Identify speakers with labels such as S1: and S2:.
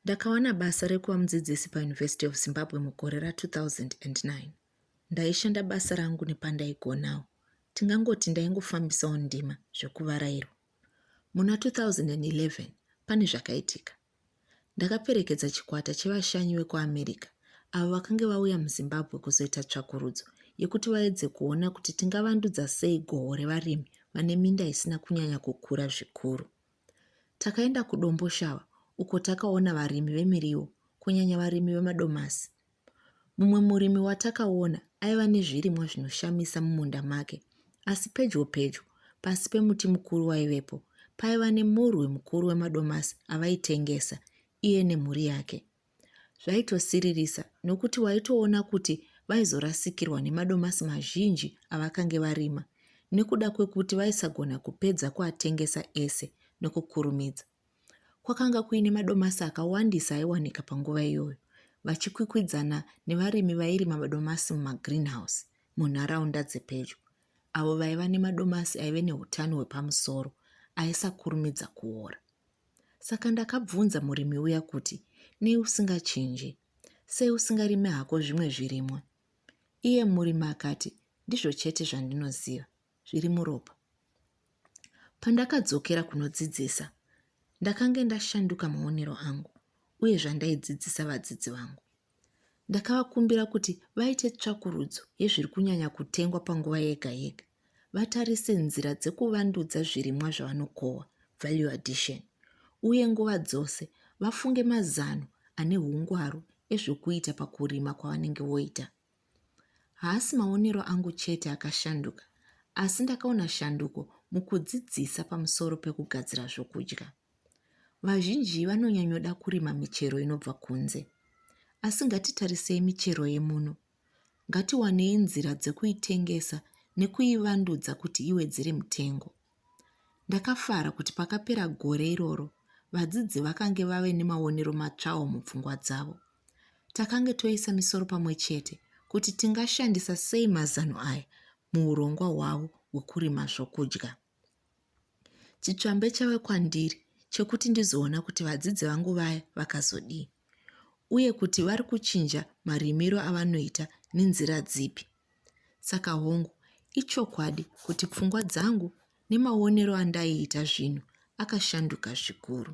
S1: Ndakawana basa rekuva mudzidzisi paUniversity of Zimbabwe mugore ra2009. Ndaishanda basa rangu nepandaigonawo. Tingangoti ndaingofambisawo ndima zvekuvarairwa. Muna 2011 pane zvakaitika. Ndakaperekedza chikwata chevashanyi vekuAmerica avo vakange vauya muZimbabwe kuzoita tsvakurudzo yekuti vaedze kuona kuti tingavandudza sei goho revarimi vane minda isina kunyanya kukura zvikuru. Takaenda kuDomboshava uko takaona varimi vemiriwo, kunyanya varimi vemadomasi. Mumwe murimi watakaona aiva nezvirimwa zvinoshamisa mumunda make, asi pedyo pedyo, pasi pemuti mukuru waivepo, paiva nemurwi mukuru wemadomasi avaitengesa iye nemhuri yake. Zvaitosiririsa nokuti waitoona kuti vaizorasikirwa nemadomasi mazhinji avakange varima nekuda kwekuti vaisagona kupedza kuatengesa ese nokukurumidza. Kwakanga kuine madomasi akawandisa aiwanika panguva iyoyo, vachikwikwidzana nevarimi vairima madomasi mumagreenhouse munharaunda dzepedyo, avo vaiva nemadomasi aive neutano hwepamusoro aisakurumidza kuora. Saka ndakabvunza murimi uya kuti, Nei usingachinje? Sei usingarime hako zvimwe zvirimwa? Iye murimi akati, Ndizvo chete zvandinoziva, zviri muropa. Pandakadzokera kunodzidzisa, ndakange ndashanduka maonero angu uye zvandaidzidzisa vadzidzi vangu. Ndakavakumbira kuti vaite tsvakurudzo yezviri kunyanya kutengwa panguva yega yega, vatarise nzira dzekuvandudza zvirimwa zvavanokohwa, value addition, uye nguva dzose vafunge mazano ane ungwaru ezvokuita pakurima kwavanenge voita. Haasi maonero angu chete akashanduka, asi ndakaona shanduko mukudzidzisa pamusoro pekugadzira zvokudya. Vazhinji vanonyanyoda kurima michero inobva kunze. Asi ngatitarisei michero yemuno. Ngatiwanei nzira dzekuitengesa nekuivandudza kuti iwedzere mutengo. Ndakafara kuti pakapera gore iroro, vadzidzi vakange vave nemaonero matsvawo mupfungwa dzavo. Takange toisa misoro pamwe chete kuti tingashandisa sei mazano aya muurongwa hwavo hwekurima zvokudya. Chitsvambe chave kwandiri chekuti ndizoona kuti vadzidzi vangu vaya vakazodii uye kuti vari kuchinja marimiro avanoita nenzira dzipi. Saka hongu, ichokwadi kuti pfungwa dzangu nemaonero andaiita zvinhu akashanduka zvikuru.